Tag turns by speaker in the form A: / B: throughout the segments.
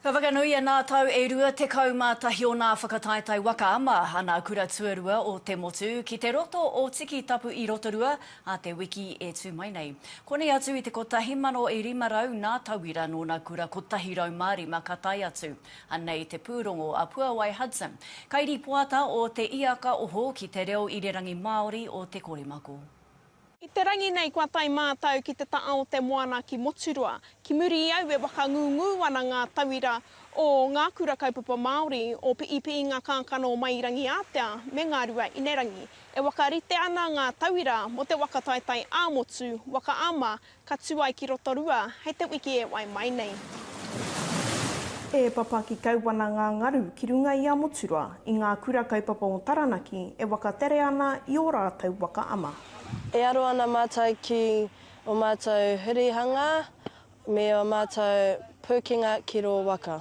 A: Ka whakanuia nā tau e rua tekau mā tahi onā whakataetae waka ama a nā kura tuarua o te motu ki te roto o Tiki Tapu i Rotorua a te wiki e tū mai nei. Konei atu i te kotahi mano e rima rau nā tauira nōna kura kotahi rau mā rima ka tae atu. Anei te pūrongo a Puawai Hudson, kairipoata o Te Iakaoho ki te reo irirangi Māori o Te Korimako. I te
B: rangi nei kua tae mātau ki te taa o te moana ki Moturoa. Ki muri i au e whakangungu ana ngā tauira o ngā kura kaupapa Māori o Piipiinga Kākano mai i Rangiātea me Ngārua Inerangi. E whakarite ana ngā tauira mo te waka taetae ā-motu, waka ama, Ka tū ai ki Rotorua hei te wiki e wai mai nei. E papa ki Kauwana ngā ngaru ki runga i a Moturoa, i ngā kura kaupapa o Taranaki e wakatere ana i ō rātou waka ama. E aro ana
C: mātou ki o mātou hurihanga me o mātou pūkenga ki rō waka.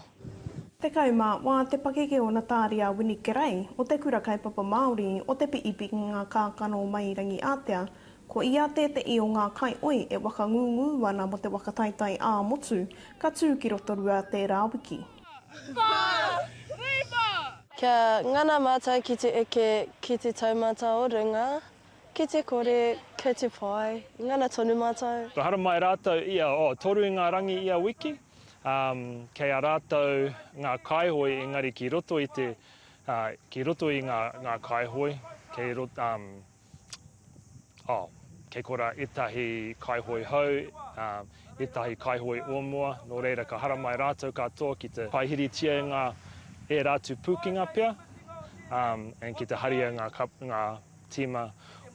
C: Tekau
B: mā wā te pakeke o Nataari a Winnie Kerei o te Kura Kaupapa Māori o Te Piipi ki ngā kākano mai Rangiātea Ko ia tēteʻi o ngā kaioi e wakangūngū ana mo te waka taitai ā motu, ka tū ki Rotorua tērā wiki.
C: Kia ngana mātou ki te eke ki te taumata o runga, ki te kore, kei te pai, ngana tonu mātou. Kua haramai rātou
D: ia, oh, toru i ngā rangi ia wiki, um, kei a rātou ngā kaioi, engari ki roto i te, uh, ki roto i ngā, ngā kaioi, kei roto, um. oh, kei kora etahi kaihoe hou, um, etahi kaihoe o mua, no reira ka haramai rātou katoa ki te paihiritia e ngā e rātu pūkinga pia, um, and ki te haria ngā, ngā tīma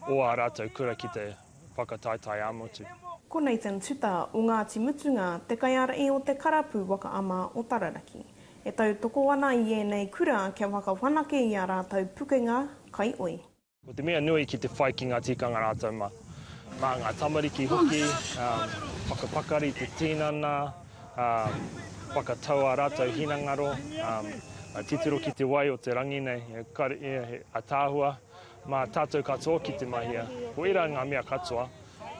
D: o ā rātou kura ki te whakataetae ā-motu. Ko Nathan
B: Tuta o Ngāti Mutunga te kaiārahi o te Karapu Waka Ama o Tararaki, e tautoko ana i ēnei kura kia whakawhanake i ā rātou pukenga kaioi. Ko te mea nui
D: ki te whai ki ngā tikanga rātou mā. Mā ngā tamariki hoki, whakapakari te tīnana, whakatau ā rātou hinangaro, titiro ki te wai o te rangi nei, ataahua mā tātou katoa ki te mahia. Ko ērā ngā mea katoa,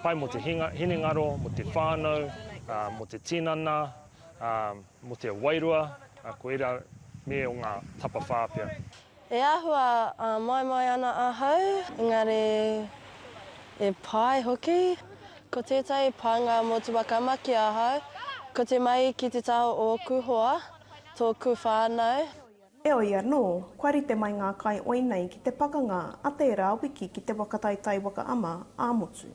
D: pai mō te hinengaro, mō te whānau, mō te tinana, mō te wairua, ko ērā mea o ngā tapawhā pea. E āhua
C: āmaimai ana ahau, engari e pai hoki. Ko tētahi pānga motuwaka ma ki ahau, ko te mahi ki te taha o ōku hoa, tōku whānau. Heoi anō,
B: kua rite mai ngā kai oi nei ki te pakanga a tērā wiki ki te waka taitai waka ama ā-motu.